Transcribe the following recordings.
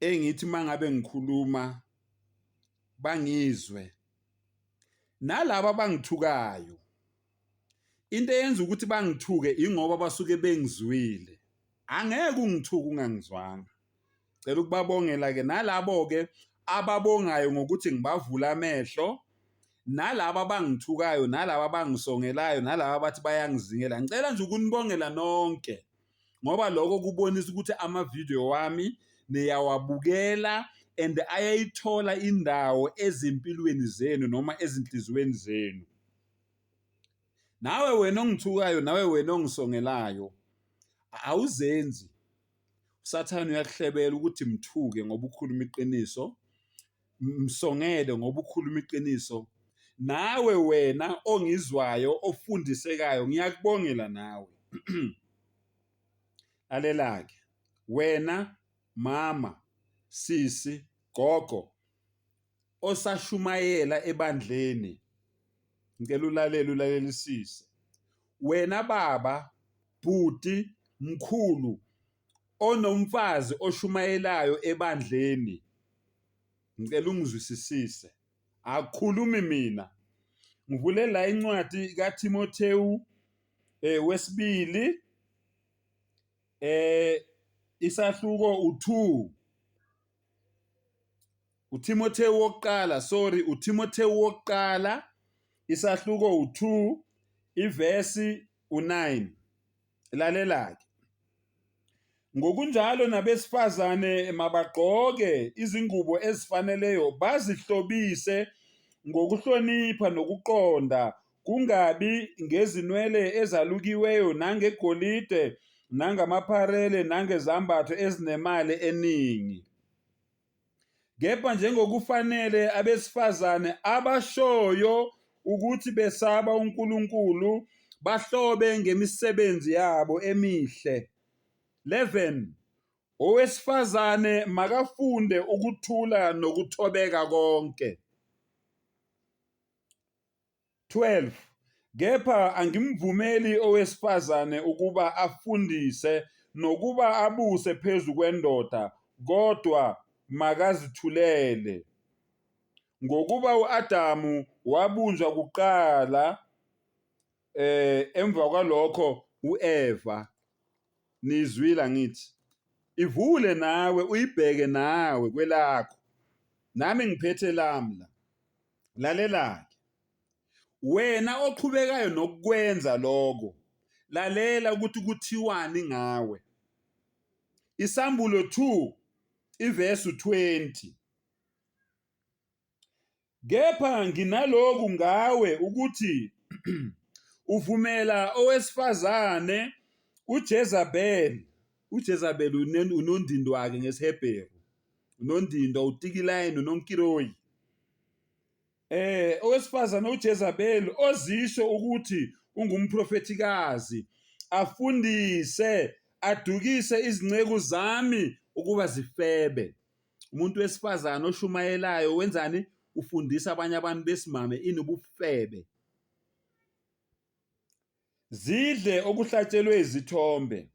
engithi uma ngabe ngikhuluma bangizwe nalabo abangithukayo into eyenza ukuthi bangithuke ingoba basuke bengizwile angeke ungithuke ungangizwanga cela ukubabongela ke nalabo ke ababongayo ngokuthi ngibavula amehlo nalabo abangithukayo nalabo abangisongelayo nalabo abathi bayangizingela ngicela nje ukunibongela nonke. ngoba lokho kubonisa ukuthi amavidiyo wami niyawabukela and ayayithola indawo ezimpilweni zenu noma ezinhliziyweni zenu nawe wena ongithukayo nawe wena ongisongelayo awuzenzi usathane uyakuhlebela ukuthi mthuke ngoba ukhuluma iqiniso Msongele ngoba ukhuluma iqiniso nawe wena ongizwayo ofundisekayo ngiyakubongela nawe lalelake wena mama sisi gogo osashumayela ebandleni ngicela ulalele ulalelisise wena baba bhuti mkhulu onomfazi oshumayelayo ebandleni ngicela ungizwisisise akukhulumi mina ngivule la incwadi kaThimothewu eh wesibili eh isahluko u2 uThimothewu wokuqala sorry uThimothewu wokuqala isahluko u2 ivesi u9 Lalela-ke. Ngokunjalo nabesifazane mabagqoke izingubo ezifaneleyo bazihlobise ngokuhlonipha nokuqonda kungabi ngezinwele ezalukiweyo nangegolide nangamapharele nangezambatho ezinemali eningi. Kepha njengokufanele abesifazane abashoyo ukuthi besaba uNkulunkulu bahlobe ngemisebenzi yabo emihle. 11 Owesifazane makafunde ukuthula nokuthobeka konke. 12 kepha angimvumeli owesifazane ukuba afundise nokuba abuse phezu kwendoda kodwa makazithulele. Ngokuba uAdamu wabunjwa kuqala eh emva kwalokho uEva nizwile angithi ivule nawe uyibheke nawe kwelakho nami ngiphethe lami la Lalela-ke, wena oqhubekayo nokukwenza lokho, lalela ukuthi kuthiwani ngawe. Isambulo 2 iverse 20 Kepha nginaloku ngawe ukuthi uvumela owesifazane uJezabel uJezabel unondindwake ngesiHebheru uNondindwa, uTikilayi noNonkiroyi. Eh owesifazane uJezabeli ozisho ukuthi ungumprofethikazi afundise adukise izinceku zami ukuba zifebe. Umuntu wesifazane oshumayelayo wenzani? Ufundisa abanye abantu besimame inubufebe. Zidle okuhlatshelwe izithombe.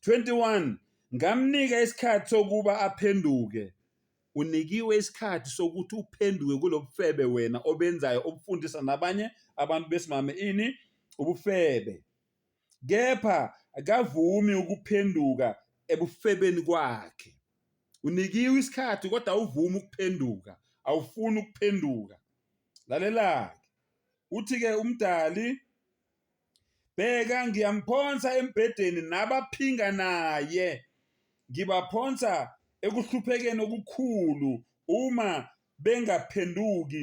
21 ngamnika isikhathi sokuba aphenduke. Unikiwe isikhathi sokuthi uphenduke kulobufebe wena obenzayo obufundisa nabanye abantu besimame ini ubufebe. Kepha akavumi ukuphenduka ebufebeni kwakhe. Unikiwe isikhathi kodwa awuvumi ukuphenduka, awufuni ukuphenduka. Lalelake. Uthi-ke uMdali, Bheka ngiyamphonsa embhedeni nabaphinga naye, ngibaphonsa ekuhluphekeni okukhulu uma bengaphenduki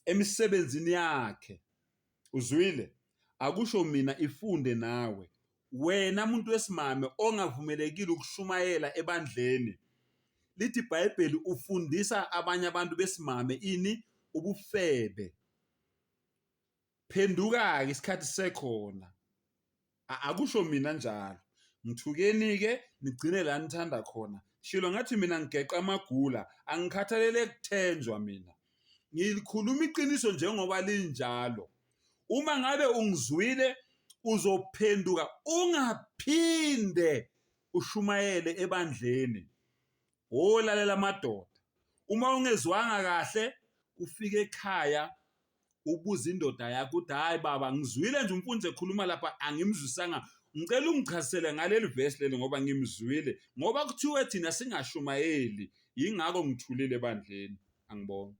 emisebenzini yakhe. Uzwile? Akusho mina ifunde nawe. Wena muntu wesimame ongavumelekile ukushumayela ebandleni. Lithi iBhayibheli ufundisa abanye abantu besimame ini ubufebe. phenduka-ke isikhathi sisekhona A- akusho mina njalo ngithukeni-ke nigcine la nithanda khona shilo ngathi mina ngigeqa amagula angikhathalele kuthenjwa mina ngilikhuluma iqiniso njengoba linjalo uma ngabe ungizwile uzophenduka ungaphinde ushumayele ebandleni Wo lalela amadoda. Uma ungezwanga kahle ufike ekhaya ubuza indoda yakho uthi hayi baba ngizwile nje umfundisi ekhuluma lapha angimzwisanga ngicela ungichazisele ngaleli verse leli ngoba ngimzwile ngoba kuthiwe thina singashumayeli yingakho ngithulile ebandleni angibonga